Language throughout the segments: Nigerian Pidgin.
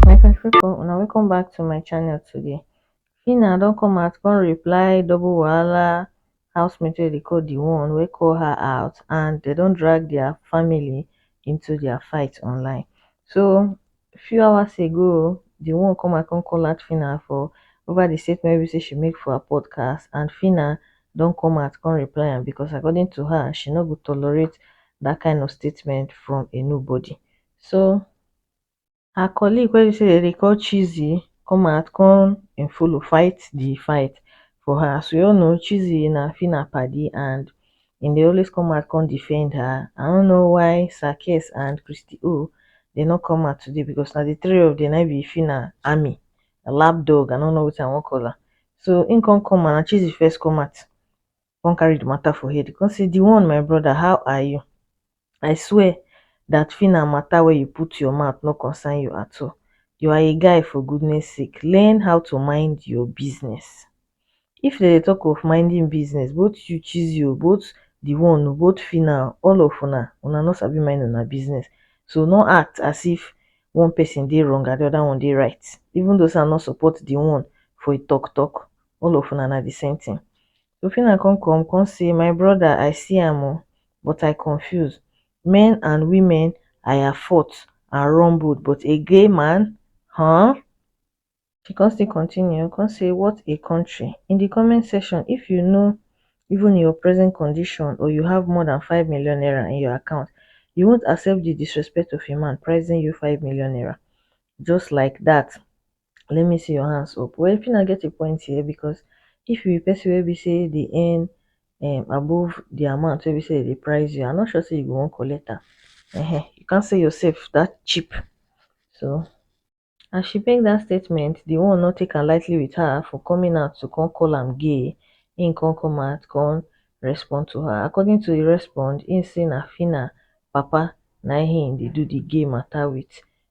my country people una welcome back to my channel today Phyna don come out come reply double wahala housemate wey dey call the one wey call her out and they don drag their family into their fight online so few hours ago oh, the one come I come call out Phyna for over the statement we say she make for her podcast and Phyna don't come out come reply am because according to her, she no go tolerate that kind of statement from a nobody. So her colleague wey be say they call Cheesy come out come and follow fight the fight for her. As we all know, Cheesy na Phyna padi and he dey always come out come defend her i no know why sir kes and christy o dey no come out today because na the three of them na im be fina army lap dog i no know wetin i wan call am so im come come out na cheesy first come out come carry the matter for head come say the one my brother how are you I swear dat phyna matter where you put your mouth no concern you at all, you are a guy for goodness sake learn how to mind your business if dem dey talk of minding business both you cheesy o both the one o both phyna o all of una, una no sabi mind una business so no act as if one person dey wrong and the other one dey right even though sey I no support the one for a talk talk all of una na the same thing Sofina come come come say my brother I see am oo but I confuse men and women aya fot and run both but a gay man huh? She come still continue come say what a country in the comment section if you know even your present condition or you have more than five million naira in your account you won't accept the disrespect of a man prizing you five million naira just like that let me see your hands up well Phyna get a point here because if you be person wey be say dey earn um above the amount wey be say they price you, I'm not sure say you go wan collect am. Uh-huh. You can't sell yourself that cheap. So as she make that statement, the one not take am lightly with her for coming out to come call am gay. He come come out, come respond to her. According to the respond, he say na Phyna papa na him dey do the gay matter with.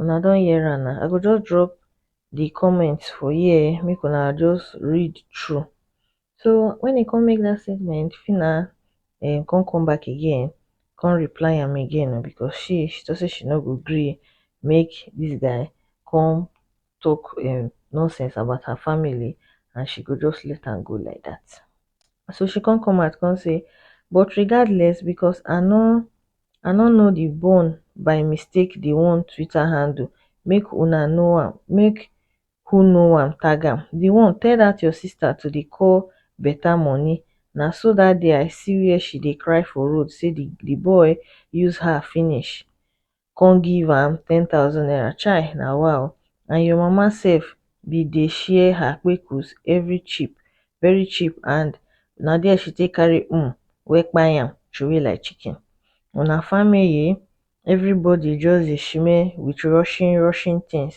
una don hear am na i go just drop the comment for here um make una just read through so when e come make that statement Phyna um come come back again come reply am again o because she she talk say she no go gree make this guy come talk um nonsense about her family and she go just let am go like that so she come come out come say but regardless because i no i no know the bone by mistake the one twitter handle make una know am make who know am tag am the one tell that your sister to dey call beta money na so that day i see where she dey cry for road say the boy use her finish come give am ten thousand naira chai na wa o and your mama sef bin dey share her kpekus very cheap very cheap and na there she take carry um wey kpai am throway like chicken on her family everybody just dey sheme with rushing rushing things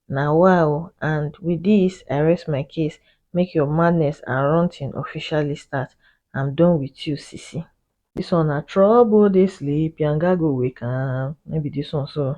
na wa o and with this i rest my case make your madness and ranting officially start am done with you sisi. This one na trouble dey sleep yanga go wake am no be this one so.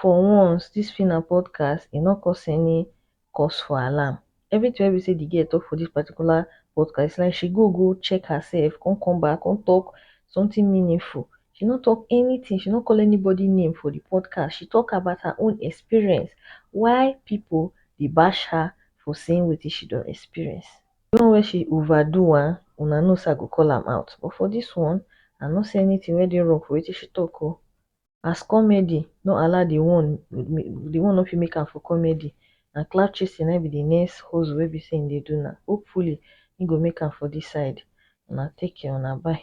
for once dis fit na podcast e no cause any cause for alarm everything wey be say the girl talk for this particular podcast it's like she go go check herself come come back come talk something meaningful she no talk anything she no call anybody name for the podcast she talk about her own experience why people dey bash her for saying wetin she don experience the one wey she over do am una know say i go call am out but for this one i no see anything wey dey wrong for wetin she talk o as comedy no allow di one di one no fit make am for comedy na clout chasing na im be di next hustle wey be say im dey do now hopefully im go make am for dis side una take care una bye.